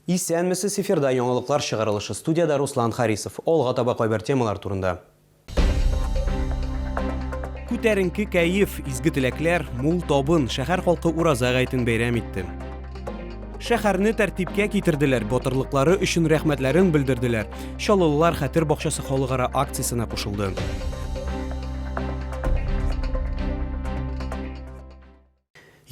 Исәнмесез, эфирда яңалыклар чыгарылышы, студиядә Руслан Харисов. Алга таба кайбер темалар турында. Күтәренке кәеф, изге теләкләр, мул табын, шәһәр халкы Ураза гаетен бәйрәм итте. Шәһәрне тәртипкә китерделәр, батырлыклары өчен рәхмәтләрен белдерделәр. Чаллылылар Хәтер бакчасы халыкара акциясенә кушылды.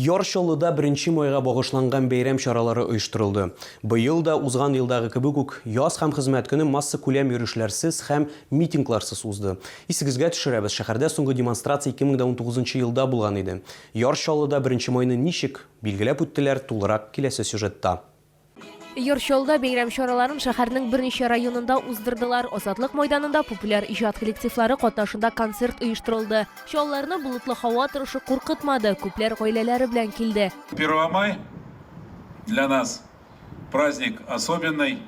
Яр Чаллыда беренче майга багышланган бәйрәм чаралары оештырылды. Быел да, узган елдагы кебек үк, Яз һәм хезмәт көне массакүләм йөрешләрсез һәм митингларсыз узды. Исегезгә төшерәбез, шәһәрдә соңгы демонстрация 2019 елда булган иде. Яр Чаллыда беренче майны ничек билгеләп үттеләр, тулырак киләсе сюжетта. Йорт чалда бәйрәм чараларын шәһәрнең берничә районында уздырдылар. Азатлык майданында популяр иҗат коллективлары катнашында концерт оештырылды. Чалларны болытлы һава торышы куркытмады, күпләр гаиләләре белән килде. Первомай для нас праздник особенный.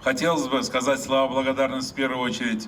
Хотелось бы сказать слова благодарности в первую очередь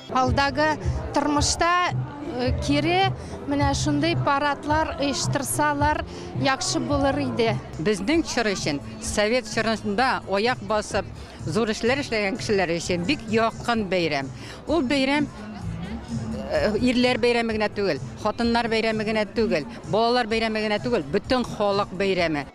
Алдагы тормышта кире менә шундый парадлар оештырсалар яхшы булыр иде. Безнең чор өчен совет чорында аяк басып зур эшләр эшләгән кешеләр өчен бик якын бәйрәм. Ул бәйрәм ирләр бәйрәме генә түгел, хатыннар бәйрәме генә түгел, балалар бәйрәме генә түгел, бөтен халык бәйрәме.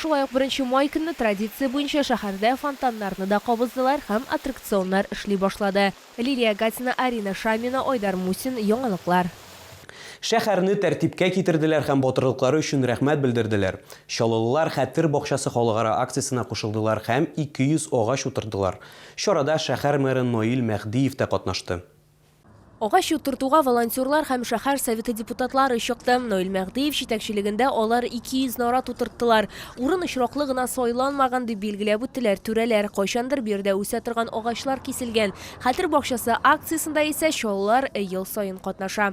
Шулай ук беренче май көнне традиция буенча шәһәрдә фонтаннарны да кабыздылар һәм аттракционнар эшли башлады. Лилия Гатина, Арина Шамина, Айдар Мусин, Яңалыклар. Шәһәрне тәртипкә китерделәр һәм батырлыклары өчен рәхмәт белдерделәр. Чаллылылар Хәтер бакчасы халыкара акциясенә кушылдылар һәм 200 агач утырттылар. Чарада шәһәр мэры Наил Мәһдиев тә катнашты. Агач утыртуга волонтерлар һәм шәһәр Советы депутатлары чыкты. Наил Мәгъдиев җитәкчелегендә алар 200 нарат утырттылар. Урын очраклы гына сайланмаган, дип билгеләп үттеләр түрәләр. Кайчандыр биредә үсә торган агачлар киселгән. Хәтер бакчасы акциясендә исә Чаллылар ел саен катнаша.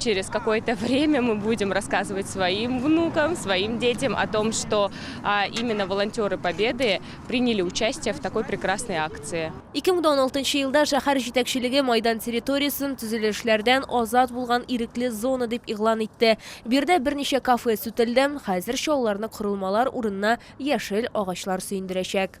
Через какое-то время мы будем рассказывать своим внукам, своим детям о том, что а, именно волонтеры Победы приняли участие в такой прекрасной акции. 2016 елда шәһәр җитәкчелеге майдан территориясен төзелешләрдән азат булган ирекле зона дип игълан итте. Бирдә берничә кафе сүтелде, хәзер чалларны корылмалар урынына яшел агачлар сөендерәчәк.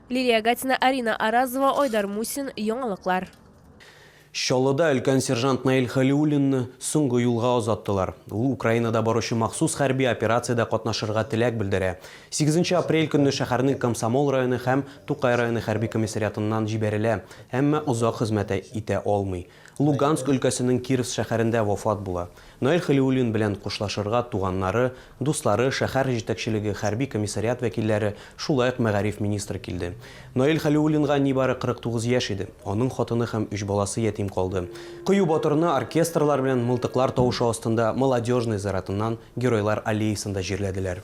Лилия Гатина, Арина Аразова, Айдар Мусин, Яңалыклар. Чаллыда өлкән сержант Наил Хәлиуллинны соңгы юлга озаттылар. Ул Украинада баручы махсус хәрби операциядә катнашырга теләк белдерә. Сигезенче апрель көнне шәһәрнең Комсомол районы һәм Тукай районы хәрби комиссариатыннан җибәрелә, әмма озак хезмәт итә алмый. Луганск өлкәсенең Кировск шәһәрендә вафат була. Наил Хәлиуллин белән хушлашырга туганнары, дуслары, шәһәр җитәкчелеге, хәрби комиссариат вәкилләре, шулай ук мәгариф министры килде. Наил Хәлиуллинга нибары 49 яшь иде. Аның хатыны һәм өч баласы ятим калды. Кыю батырны оркестрлар белән мылтыклар тавышы астында Молодежный зыяратыннан Геройлар аллеясында җирләделәр.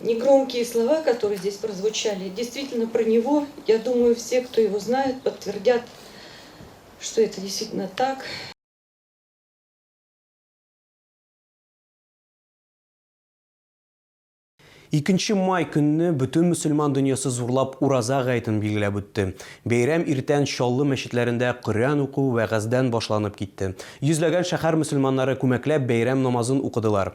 Негромкие слова, которые здесь прозвучали, действительно про него, я думаю, все, кто его знает, подтвердят, что это действительно так. Икенче май көнне бөтен мөселман дөньясы зурлап ураза гаетен билгеләп үтте. Бәйрәм иртән Чаллы мәчетләрендә Коръән уку вәгазьдән башланып китте. Йөзләгән шәһәр мөселманнары күмәкләп бәйрәм намазын укыдылар.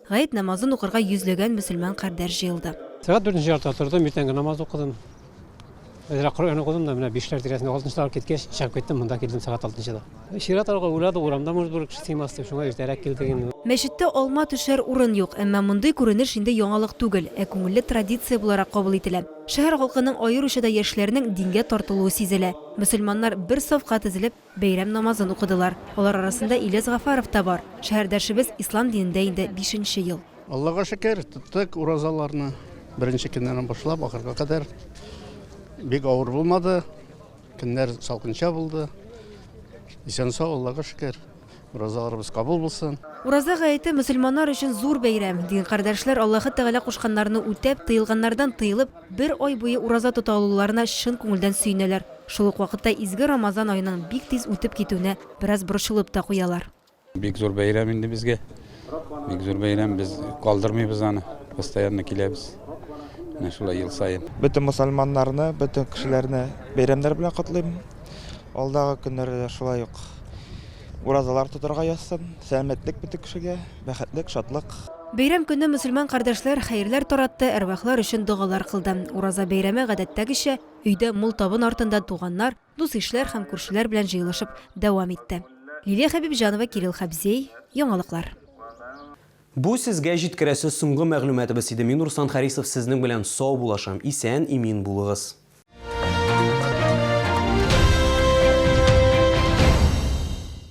Гает намазын укырга йөзләгән мөселман кардәш җыелды. Сәгать дүртенче яртыда тордым, иртәнге намаз укыдым. Әзрәк Коръән укыдым да, менә бишләр тирәсендә, алтынчы тагы киткәч, чыгып киттем, монда килдем сәгать алтынчыда. Чират алга уйладык, урамда, может, бер кеше сыймас дип, шуңа иртәрәк килдек инде. Мәчеттә алма төшәр урын юк, әмма мондый күренеш инде яңалык түгел, ә күңелле традиция буларак кабул ителә. Шәһәр халкының, аеруча да яшьләрнең дингә тартылуы сизелә. Мөселманнар бер сафка тезелеп, Бәйрәм намазын укыдылар. Алар арасында Ильяс Гафаров та бар. Шәһәрдәшебез ислам динендә инде бишенче ел. Аллага шөкер, тоттык уразаларны. Беренче көннән башлап ахырга кадәр. Бик авыр булмады. Көннәр салкынча булды. Исән-сау, Аллага шөкер. Уразаларыбыз кабул булсын. Ураза гаете мөселманнар өчен зур бәйрәм. Дин кардәшләр Аллаһы Тәгалә кушканнарны үтәп, тыелганнардан тыелып, бер ай буе ураза тота алуларына чын күңелдән сөенәләр. Шул ук вакытта изге Рамазан аеның бик тиз үтеп китүенә бераз борчылып та куялар. Бик зур бәйрәм инде безгә. бик зур бәйрәм, без калдырмыйбыз аны, постоянно киләбез. Менә шулай ел саен. Бөтен мусульманнарны, бөтен кешеләрне бәйрәмнәр белән котлыйм. Алдагы көннәрдә дә шулай ук уразалар тотарга язсын. Сәламәтлек бөтен кешегә, бәхетлек, шатлык. Бәйрәм көне мөселман кардәшләр хәерләр таратты, әрвахлар өчен догалар кылды. Ураза бәйрәме, гадәттәгечә, өйдә мул табын артында туганнар, дус-ишләр һәм күршеләр белән җыелышып дәвам итте. Лилия Хәбибҗанова, Кирилл Хәбзей, Яңалыклар. Бу сезгә җиткерәсе соңгы мәгълүматыбыз иде. Мин Руслан Харисов сезнең белән сау булашам. Исән, имин булыгыз.